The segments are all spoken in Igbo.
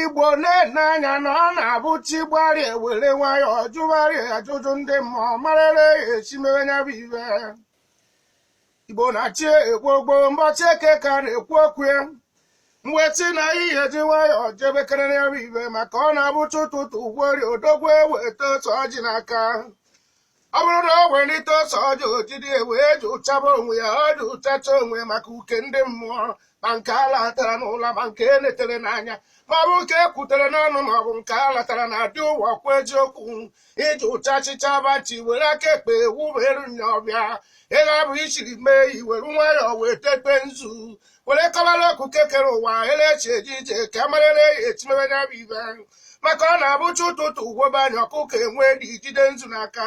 igbo na-ene anya na ọ na-abụ chi gbarịa e were nwayọọ jụgharịa ajụjụ ndị mmụọ marara ya esi mewe nya bụ ive igbo na-achị ekwu ogbo mbọchị eke ka na-ekwu okwu ya mwetị na ihe ji nwayọọ jebekere ya bụ ive maka ọ na-abụ chi ụtụtụ fori odogwu eweta ose ọjị n'aka ọ bụrụ na o welite ose ọjị o jidi wee jụchaba onwe ya ọ jụchacha onwe maka uke ndị mmụọ ma nke a latara n'ụla ma nke e letere n'anya ma ọ bụ nke e kwutere n'ọnụ ma ọ bụ nke a latara na adị ụwa kwa eziokwu ị jụchachịcha bachi were aka ekpe wubere nya ọ bịa ego abụ ichiri mee i were nwayọọ wee tekpe nzu were kọbara okike kere ụwa elechi eji ije ka a marịrị ya esi mebe ya bụ ive maka ọ na-abụ chi ụtụtụ fobe anya ọkụkọ e wee dị jide nzu n'aka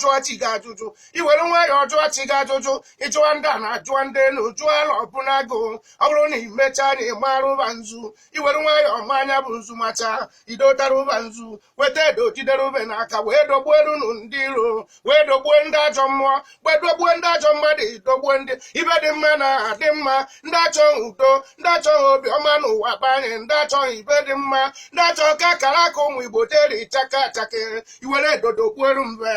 jụọ chi gị ajụjụ i were nwayọọ jụọ chi gị ajụjụ ị jụọ ndị ana jụọ ndị elu jụọ ala ọbụnagụ ọ bụrụ na i mechaa na ịmara ụba nzu i were nwayọọ maa nya bụ nzu macha idotara ụba nzu weta edo jidere ube n'aka wee dogbuo elu nụ ndị iro wee dogbuo ndị ajọ mmụọ wee dogbuo ndị ajọ mmadụ dogbuo ndị ive dị mma na-adị mma ndị achọghị udo ndị achọghị obi ọma n'ụwa be anyị ndị achọghị ive dị mma ndị achọghị ka akara aka ụmụ igbo deri chaka chakere i were edo dogbuoru mbe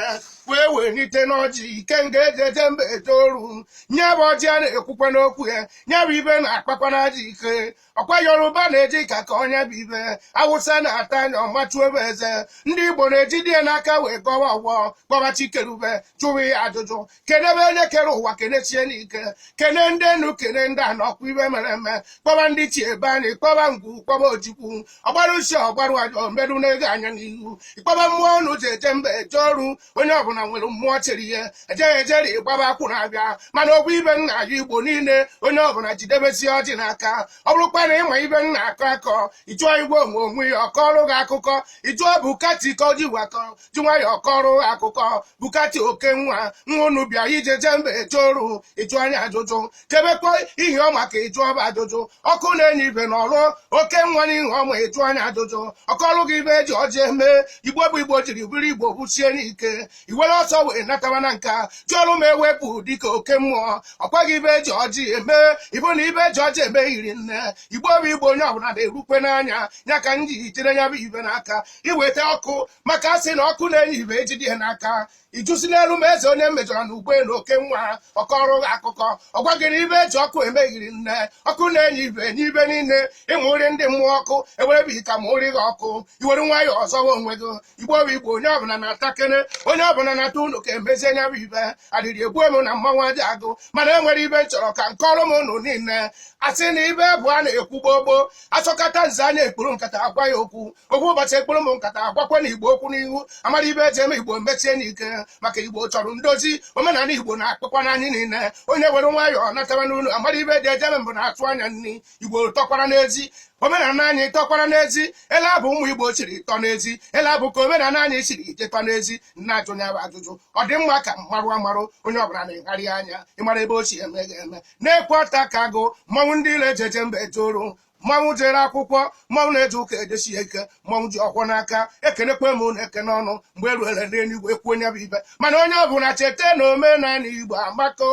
wee welite n'ọjị ikenga e ji eje mba eje oru nya bụ ọjị a na-ekwukwa n'okwu ya nya bụ ive na-akpakwa n'aja ike ọkwa yoruba na-eji aka akọ nya bụ ive awụsa na-ata nya ọ machuo ve eze ndị igbo na-ejide ya n'aka wee gọwa ọfọ kpọba chi keru ve jụwa ya ajụjụ kenebe onye kere ụwa kenesie n'ike kene ndị enu kene ndị ana ọkwa ive mere eme kpọba ndị ichie be anyị kpọba ngwu kpọba ojukwu ọgbara usi ọgbarụ ajọ mbedu na-ego anya n'ihu ị kpọba mmụọ unu ji eje mba eje oru onye ọbụla nwere mmụọ chere ihe ejeghị ejeri ịgbaba akwụ na-abịa mana ọ bụ ive nna ya igbo niile onye ọbụla jidebesi ọjị n'aka ọ bụrụkwa na ịma ive ị na-akọ akọ ị jụọ igwe onwe onwe ya ọ kọọrụ gị akụkọ ị jụọ bukati ka o ji wakọ ji nwayọọ kọrọ akụkọ bukati oke nwa unu bịa iji eje mba eje oru ị jụọ nya ajụjụ kebekwa ihe ọ maka ịjụ ọba ajụjụ ọkụ na-enye ive na ọrụ oke nwa n'ihe ọma ị jụọ nya ajụjụ ọ kọlụ gị ive e ji ọjị eme igbo bụ igbo jiri bụrụ igbo busie n'ike i were ọsọ wee nataba na nka ji ọrụ ma ewepụ dịka oke mmụọ ọ kọọ gị ive e ji ọjị eme ị fụ na ive e ji ọjị eme eri nne igbo bụ igbo onye ọbụla na-erukwe n'anya ya ka m ji jide ya bụ ive n'aka iweta ọkụ maka asị na ọkụ na-enye ife ejide ihe n'aka ijusi n'elu ma eze onye mejọrọ na ugbe na oke nwa ọ kọọrọ gị akụkọ ọ gwa gị ife eji ọkụ emeghiri nne ọkụ na-enye ife n'ife niile ịmụ nri ndị mmụọ ọkụ ewerebe ita ma ụrị gị ọkụ i were nwayọọ zọwa onwe gị igbo bụ igbo onye ọbụla natakene onye ọbụla nata ụlọ ka emezie nya bụ ife adịrị egbu emu na mmanwụ aja agụ mana enwere ife m chọrọ ka m kọọrọ ụnụ niile asị na ife bụ a na-ekwu gbogbo asọkata nze anya ekpuru nkata agwa ya okwu okwu ụbọchị ekpuru m nkata agwakwa ndị igbo okwu n'ihu amara ife eji eme igbo mesie n'ike maka igbo chọrọ ndozi omenala igbo na-akpọkwa anyị niile onye were nwayọọ nataba n'ụlọ amara ife dị ejebe mbụ na-atụ anya nri igbo tọkwara n'ezi omenala anyị tọkwara n'ezi ele abụ ụmụ igbo jiri tọ n'ezi ele abụ ka omenala anyị chiri ije tọ n'ezi m na-ajụ ya bụ ajụjụ ọ dị mma ka m marụ amarụ onye ọbụla legharịa anya ịmara ebe ochie eme ga-eme na-ekwe ọta ka agụ mmanwụ ndị ile ejeje mba eje oru mmanwụ jere akwụkwọ mmanwụ na-eje ụka ejesi ya ike mmanwụ ji ọfọ n'aka ekenekwa m ụnụ ekene ọnụ mgbe eruere n'eluigwe kwuo nya bụ ife mana onye ọ bụla cheta na omenala igbo amaka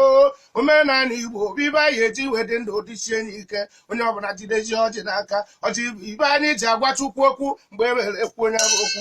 omenala igbo bụ ife anyị ji wee dị ndụ dịsienụ ike onye ọ bụla jidesie ọjị n'aka ọjị bụ ife anyị ji agwa chukwu okwu mgbe ewere ekwuo nya bụ okwu